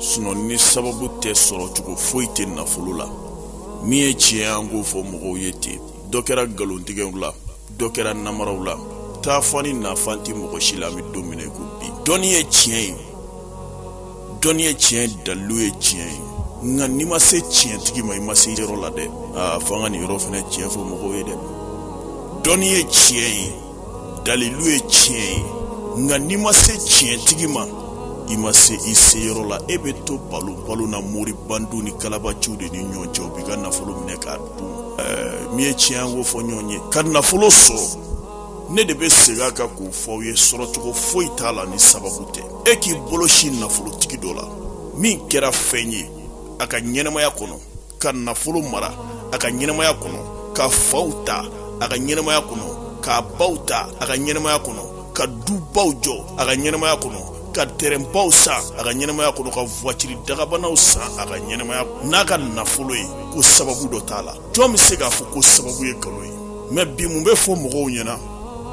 sinɔn ni sababu tɛ sɔrɔcogo foyi tɛ nafolo la min ye tiɲɛ an k'o fɔ mɔgɔw ye ten dɔ kɛra nkalontigɛw la dɔ kɛra namaraw la taafan ni nafan tɛ mɔgɔ si la an bɛ don min na i ko bi dɔnni ye tiɲɛ ye dɔnni ye tiɲɛ ye dalilu ye tiɲɛ ye nka n'i ma se tiɲɛtigi ma i ma se yɔrɔ la dɛ aa f'an ka nin yɔrɔ fana tiɲɛ fɔ mɔgɔw ye dɛ dɔnni ye tiɲɛ ye dalilu ye tiɲɛ ye nka n'i ma se tiɲɛtigi ma i ma se i seyɔrɔ la e bɛ to balo balo na mori bandiw ni kalabanciw de ni ɲɔgɔn cɛ u b'i ka nafolo minɛ k'a dun ɛɛ min ye tiɲɛ an k'o fɔ ɲɔgɔn ye ka nafolo sɔrɔ ne de bɛ segin a kan k'o fɔ aw ye sɔrɔcogo foyi t'a la ni sababu tɛ e k'i bolo sin nafolotigi dɔ la min kɛra fɛn ye a ka ɲɛnɛmaya kɔnɔ ka nafolo mara a ka ɲɛnɛmaya kɔnɔ k'a faw ta a ka ɲɛnɛmaya kɔnɔ k'a baw ta a ka ɲɛnɛmaya kɔnɔ ka dubaw jɔ a ka ɲɛnɛmaya kɔnɔ ka tɛrɛnbaw san a ka ɲɛnɛmaya kɔnɔ ka vuwatiri dakabanaw san a ka ɲɛnɛmaya n'a ka nafolo ye ko sababu dɔ t'a la jɔn be se k'a fɔ ko sababu ye nkalon ye mɛ bi mun be fɔ mɔgɔw ɲɛna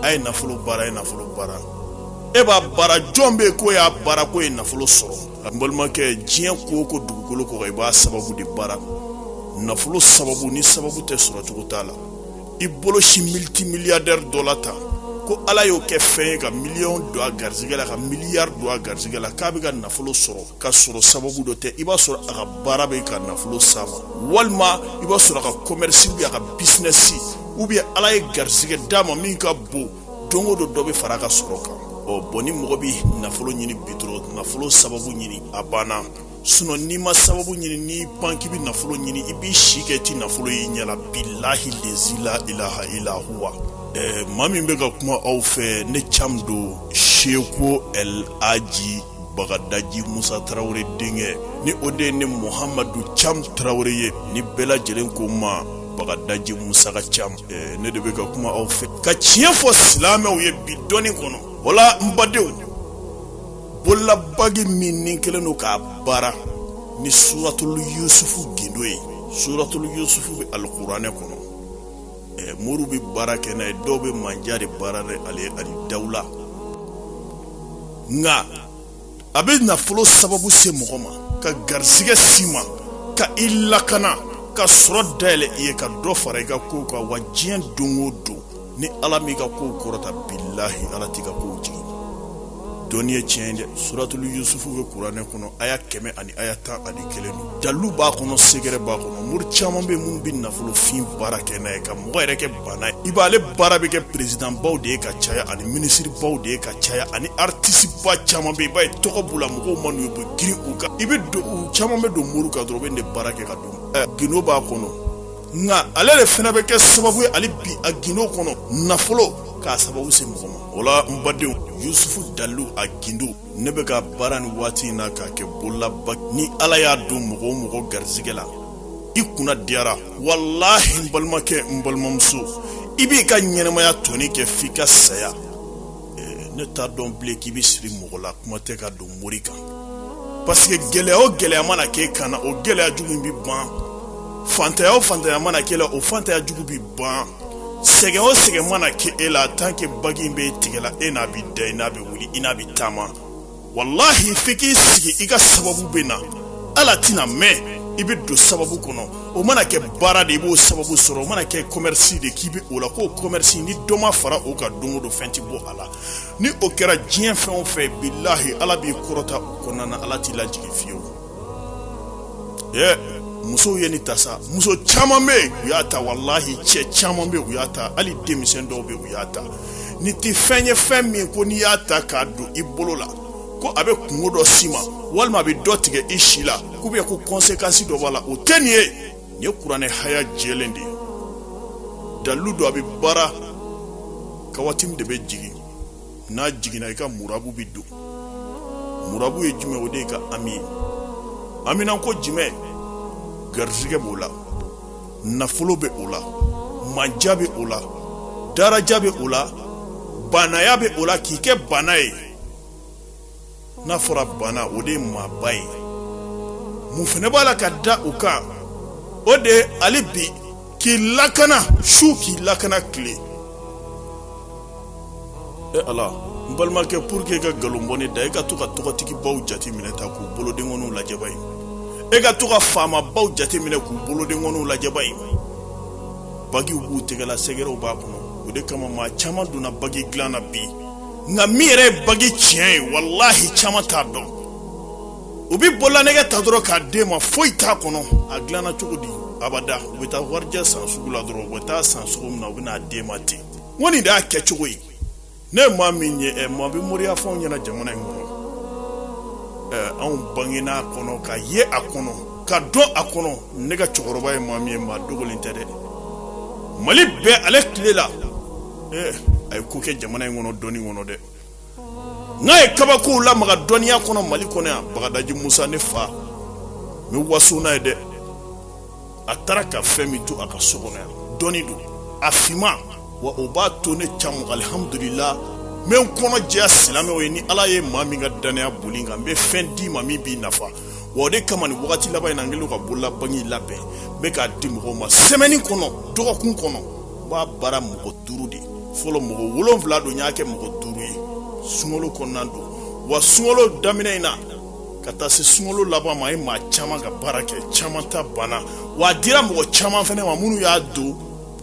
a ye nafolo baara ye nafolo baara e b'a baara jɔn be k'o y'a baara k'o ye nafolo sɔrɔ n balimakɛ diɲɛ ko o ko dugukolo kɔ kan i b'a sababu de baara nafolo sababu ni sababu tɛ sɔrɔcogo t'a la i bolo sin militi miliyadɛri dɔ la ta ko ala y'o kɛ fɛn ye ka miliyɔn don a garisigɛ la ka miliyari don a garisigɛ la k'a bɛ ka nafolo sɔrɔ ka sɔrɔ sababu dɔ tɛ i b'a sɔrɔ a ka baara bɛ ka nafolo s'a ma walima i b'a sɔrɔ a ka kɔmɛrisi ubiyɛn a ka bisinɛsi ubiyɛn ala ye garisigɛ d'a ma min ka bon don o don dɔ bɛ fara a ka sɔrɔ kan ɔ bɔn ni mɔgɔ bɛ nafolo ɲini bi dɔrɔn nafolo sababu ɲini a banna sinɔ n'i ma sababu ɲini n'i pan k'i bɛ nafolo ɲini i b'i si kɛ i ti nafolo y'i ɲɛ la bilahi lezi la ilaha ila huwa ɛɛ maa min bɛ ka kuma aw fɛ ne cam don seko ɛl aji bagadaji musa tarawele denkɛ ni o de ye ne muhamadu cam tarawele ye ni bɛɛ lajɛlen ko n ma bagadaji musa ka cam eh, ne de bɛ ka kuma aw fɛ ka tiɲɛ fɔ silamɛw ye bi don in kɔnɔ wala n badenw bololabagi min ni kɛlen don k'a baara ni suratulu yusufu gindo ye suratulu yusufu bɛ alikuranɛ kɔnɔ ɛ moriw bɛ baara kɛ n'a ye dɔw bɛ mandiya de baara ni ale ye ani dawula nka a bɛ nafolo sababu se mɔgɔ ma ka garisigɛ s'i ma ka i lakana ka sɔrɔ dayɛlɛ i ye ka dɔ fara i ka kow kan wa diɲɛ don o don ni ala m'i ka kow kɔrɔta bilahi ala t'i ka kow jigin dɔnni ye tiɲɛ dɛ suratulu yusufu bɛ kuranɛ kɔnɔ aya kɛmɛ ani aya tan ani kelen don dalu b'a kɔnɔ sɛgɛrɛ b'a kɔnɔ mori caman bɛ minnu bɛ nafolofin baara kɛ n'a ye ka mɔgɔ yɛrɛ kɛ baana ye i b'ale baara bɛ kɛ perezidanbaw de ye ka caya ani minisiribaw de ye ka caya ani aritisiba caman bɛ i b'a ye tɔgɔ b'u la mɔgɔw man'u ye u bɛ girin u kan i bɛ don u caman bɛ don mori kan dɔrɔn u bɛ nin de baara kɛ ka don ɛ gindo b'a kɔnɔ nka ale de fana bɛ kɛ sababu ye hali bi a gindo kɔnɔ nafolo k'a sababu se mɔgɔ ma o la n badenw yusufu dalu a gindo ne bɛ k'a baara nin waati in na k'a kɛ bolola bagi ni ala y'a don mɔgɔ o mɔgɔ garijɛgɛ la i kunna diyara walahi n balimakɛ n balimamuso i b'i ka ɲɛnamaya tɔ nin kɛ f'i ka saya ne t'a dɔn bilen k'i bɛ siri mɔgɔ la kuma tɛ ka don mori kan paseke gɛlɛya o gɛlɛya mana k'e kan na o gɛlɛya jugu in bɛ ban fantanya o fantanya mana k'e la o fantanya jugu bɛ ban sɛgɛn o sɛgɛn mana kɛ e la tant que bagi b'i tigɛ la e n'a bi da i n'a bɛ wuli i n'a bɛ taama walahi f'i k'i sigi i ka sababu bɛ na ala tɛna mɛɛn i bɛ don sababu kɔnɔ o mana kɛ baara de i b'o sababu sɔrɔ o mana kɛ kɔmɛrisi de k'i bɛ o la k'o kɔmɛrisi ni dɔ ma fara o kan don o don fɛn tɛ bɔ a la ni o kɛra diɲɛ fɛn o fɛn bilahi ala b'i kɔrɔta o kɔnɔna na ala t'i lajigin fiyewu ɛɛ musow ye nin ta sa muso caman bɛ u y'a ta walahi cɛ caman bɛ u y'a ta hali denmisɛn dɔw bɛ u y'a ta nin tɛ fɛn ye fɛn min ko n'i y'a ta k'a don i bolo la ko a bɛ kunko dɔ s'i ma walima a bɛ dɔ tigɛ i si la ko bɛ ko kɔnsekansi dɔ b'a la o tɛ nin ye nin ye kuranɛ haya jɛlen de ye dalu don a bɛ baara kawatimu de bɛ jigin n'a jiginna i ka murabu bɛ don murabu ye jumɛn o de ye ka ami ye amina ko jumɛn garijɛgɛ b'o la nafolo bɛ o la manja bɛ o la daraja bɛ o la baanaya bɛ o la k'i kɛ baana ye n'a fɔra baana o de ye maaba ye mun fana b'a la ka da u kan o de ye hali bi k'i lakana su k'i lakana tile e ala n balimakɛ pour que ka nkalon bɔ ne da e ka to ka tɔgɔtigibaw jate minɛ ta k'u bolodenkɔniw lajɛ i b'a ye e ka to ka faamabaw jate minɛ k'u bolodenkɔniw lajɛ i b'a ye bagiw b'u tɛgɛ la sɛgɛrɛw b'a kɔnɔ o de kama maa caman donna bagi dilan na bi nka min yɛrɛ ye bagi tiɲɛ ye walahi caman t'a dɔn u bɛ bololanɛgɛ ta dɔrɔn k'a d'e ma foyi t'a kɔnɔ a dilanna cogo di abada u bɛ taa warijɛ san sugu la dɔrɔn u bɛ taa san sugu min na u bɛ n'a d'e ma ten n ko nin de y'a kɛcogo ye ne ye maa min ye ɛ maa bɛ moriya fɔ anw ɲɛna jamana in kɔnɔ ɛ anw bangena a kɔnɔ ka ye a kɔnɔ ka dɔn a kɔnɔ ne ka cɛkɔrɔba ye maa min ye maa dogolen tɛ dɛ mali bɛɛ ale tile la a ye ko kɛ jamana in kɔnɔ dɔnni kɔnɔ dɛ n'a ye kabakow lamaga dɔnniya kɔnɔ mali kɔnɔ yan bagadaji musa ne fa n bɛ waso n'a ye dɛ a taara ka fɛn min to a ka so kɔnɔ yan dɔnni don a finman wa o b'a to ne can alihamudulila n bɛ n kɔnɔ jɛya silamɛw ye ni ala ye maa min ka dannaya boli kan n bɛ fɛn d'i ma min b'i nafa wa o de kama nin wagati laban in na n kɛlen ka bololabagi labɛn n bɛ k'a di mɔgɔw ma sɛmɛni kɔnɔ dɔgɔkun kɔnɔ n b'a baara mɔgɔ duuru de fɔlɔ mɔgɔ wolonfila don n y'a kɛ mɔgɔ duuru ye sunkalo kɔnɔna don wa sunkalo daminɛ in na ka taa se sunkalo laban ma a ye maa caman ka baara kɛ caman ta banna wa a dira mɔgɔ caman fɛnɛ ma minnu y'a don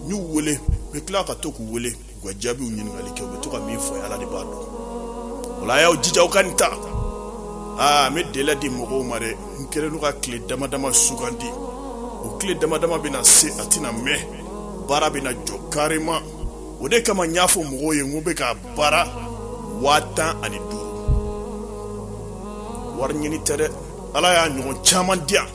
n y'u wele n bɛ tila ka to k'u wele u ka jaabiw ɲininkali kɛ u bɛ to ka min fɔ ala de b'a dɔn o la a y'aw jija aw ka nin ta aa n bɛ dɛlɛ di mɔgɔw ma dɛ n kɛlen don ka tile dama dama sugandi o tile dama dama bɛ na se a tɛna mɛn baara bɛna jɔ kareman o de kama n y'a fɔ mɔgɔw ye n ko n bɛ k'a baara waa tan ani duuru wari ɲini tɛ dɛ ala y'a ɲɔgɔn caman di yan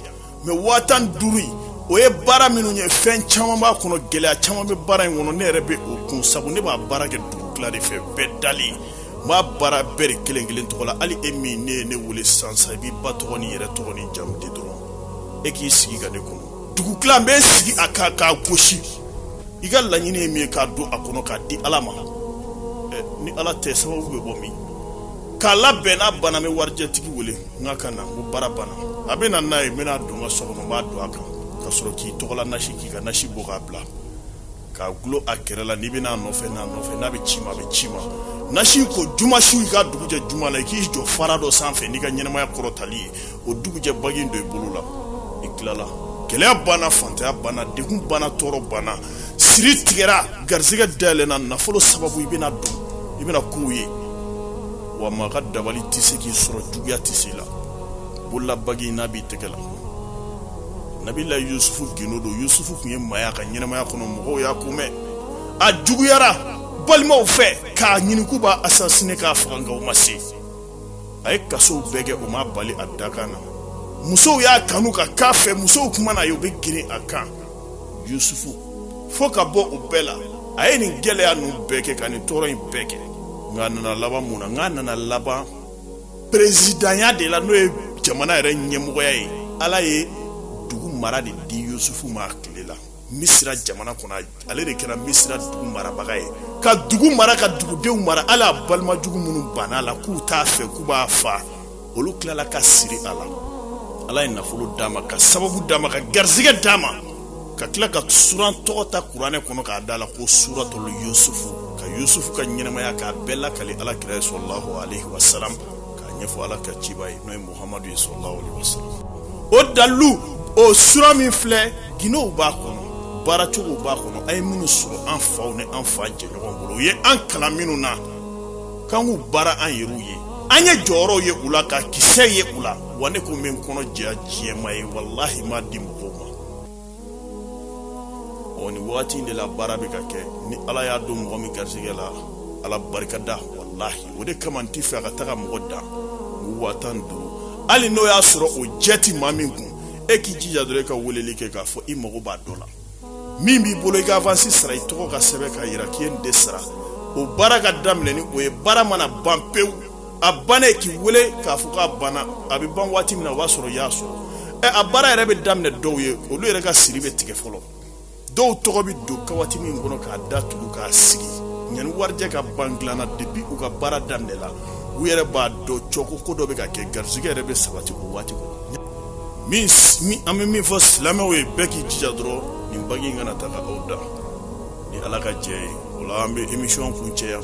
mɛ waa tan duuru in o ye baara minnu ye fɛn caman b'a kɔnɔ gɛlɛya caman bɛ baara in kɔnɔ ne yɛrɛ bɛ o kun sabu ne b'a baara kɛ dugu tila de fɛ bɛɛ dalen n b'a baara bɛɛ de kelen kelen tɔgɔ la hali e min ne ye ne wele sisan sisan i b'i ba tɔgɔ n'i yɛrɛ tɔgɔ n'i jamu di dɔrɔn e k'i sigi ka ne kɔnɔ dugu tila n bɛ sigi a kan k'a gosi i ka laɲini ye min ye k'a don a kɔnɔ k'a di ala ma ni ala tɛ sababu bɛ bɔ min k'a labɛn n'a banna n bɛ warijɛtigi wele n k'a ka na ko baara banna a bɛ na n'a ye n bɛna don n ka so kɔnɔ n b'a don a kan ka sɔrɔ k'i tɔgɔla nasi k'i ka nasi bɔ k'a bila k'a dulon a kɛrɛ la n'i bɛ na a nɔfɛ n'a nɔfɛ n'a bɛ ci i ma a bɛ ci i ma nasi ko juma su i ka dugujɛ juma la i k'i jɔ fara dɔ sanfɛ n'i ka ɲɛnamaya kɔrɔtali ye o dugujɛ bagi don i bolo la i tilala gɛlɛya banna fantanya banna degun banna tɔɔrɔ banna siri tigɛra garisɛgɛ dayɛlɛna nafolo sababu i bɛna don i bɛna kow ye wa maa ka dabali tɛ se k'i sɔrɔ juguya tɛ se i la bololabagi n'a b'i tɛgɛ la nabilayi yusufu gundo don yusufu tun ye maaya ka ɲɛnamaya kɔnɔ mɔgɔw y'a ko mɛn a juguyara balimaw fɛ k'a ɲini k'u b'a asasine k'a faga nka u ma se a ye kasow bɛɛ kɛ o m'a bali a dakan na musow y'a kanu ka k'a fɛ musow tun mana a ye u bɛ girin a kan yusufu fo ka bɔ o bɛɛ la a ye nin gɛlɛya ninnu bɛɛ kɛ ka nin tɔɔrɔ in bɛɛ kɛ nka a nana laban mun na nka a nana laban perezidanya de la n'o ye jamana yɛrɛ ɲɛmɔgɔya ye ala ye dugu mara de di yusufu ma tile la misira jamana kɔnɔ ale de kɛra misira dugu marabaga ye ka dugu mara ka dugudenw mara hali a balima jugu minnu banna a la k'u t'a fɛ k'u b'a fa olu tilala ka siri a la ala ye nafolo d'a ma ka sababu d'a ma ka garisɛgɛ d'a ma ka tila ka suran tɔgɔ ta kuranɛ kɔnɔ k'a d'a la ko suratulu yusufu ka yusufu ka ɲɛnamaya k'a bɛɛ lakali ala kira ye salalahu alaihi wasalam k'a ɲɛfɔ ala ka ciba ye n'o ye muhamadu ye salalahu alaihi wasalam o dalu o sura min filɛ gundow b'a kɔnɔ baaracogow b'a kɔnɔ an ye minnu sɔrɔ an faw ni an fa jɛɲɔgɔn bolo u ye an kalan minnu na k'an k'u baara an yɛrɛw ye an ye jɔyɔrɔw ye u la ka kisɛ ye u la wa ne ko n bɛ n kɔnɔ jɛya diɲɛ maa ye walahi m'a di mɔgɔw ma ɔ nin wagati in de la baara bɛ ka kɛ ni ala y'a don mɔgɔ min garisigɛ la ala barika da walahi o de kama n tɛ fɛ a ka taga mɔgɔ dan waa tan ni duuru hali n'o y'a sɔrɔ o jɛ ti maa min kun e k'i jija dɔrɔn e ka weleli kɛ k'a fɔ i mago b'a dɔ la min b'i bolo i ka avansi sara i tɔgɔ ka sɛbɛn k'a yira k'i ye nin de sara o baara ka daminɛ ni o ye baara mana ban pewu a bannen k'i wele k'a fɔ k'a banna a bɛ ban waati min na o b'a sɔrɔ i y'a sɔrɔ ɛ a baara yɛrɛ bɛ daminɛ dɔw ye olu yɛrɛ ka siri bɛ tigɛ fɔlɔ dɔw tɔgɔ bɛ don kawatimi kɔnɔ k'a datugu k'a sigi yanni warijɛ ka ban dilan na depi u ka baara daminɛ la u yɛrɛ b'a dɔn cɔ ko ko dɔ bɛ ka kɛ garisigɛ yɛrɛ bɛ sabati o waati kɔnɔ an bɛ min fɔ silamɛw ye bɛɛ k'i jija dɔrɔn nin bagi in kana taga aw dan ni ala ka jɛn ye o la an bɛ emisiyɔn kuncɛ yan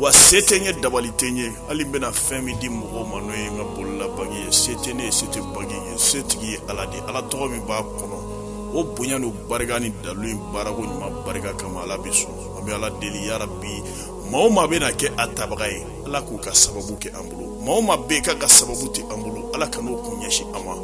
wa se tɛ n ye dabali tɛ n ye hali n bɛna fɛn min di mɔgɔw ma n'o ye n ka bolola bagi ye se tɛ ne ye se tɛ bagi ye se tigi ye ala de ala tɔgɔ min b'a kɔnɔ o bonya n'o barika ni dalu in baarako ɲuman barika kama ala bɛ sɔn an bɛ ala deli yarabi maa o maa bɛna kɛ a tabaga ye ala k'u ka sababu kɛ an bolo maa o maa bɛ k'a ka sababu tɛ an bolo ala kan'o kun ɲɛsin an ma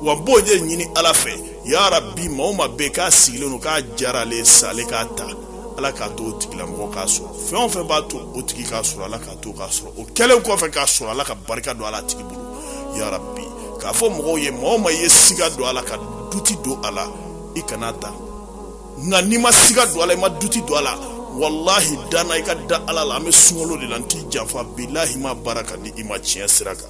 wa n b'o de ɲini ala fɛ yarabi maa o maa bɛ k'a sigilen don k'a diyara ale ye sa ale k'a ta ala k'a to o tigilamɔgɔ k'a sɔrɔ fɛn o fɛn b'a to o tigi k'a sɔrɔ ala k'a to k'a sɔrɔ o kɛlen kɔfɛ k'a sɔrɔ ala ka barika don a la a tigi bolo yarabi k'a fɔ mɔgɔw ye maa o maa ye siga don a la ka duti don a la i kana a ta nka n'i ma siga don a la i ma duti don a la walahi danna i ka da ala la an bɛ sunkalo de la n t'i janfa bilahi m'a baara k'a di i ma tiɲɛ sira kan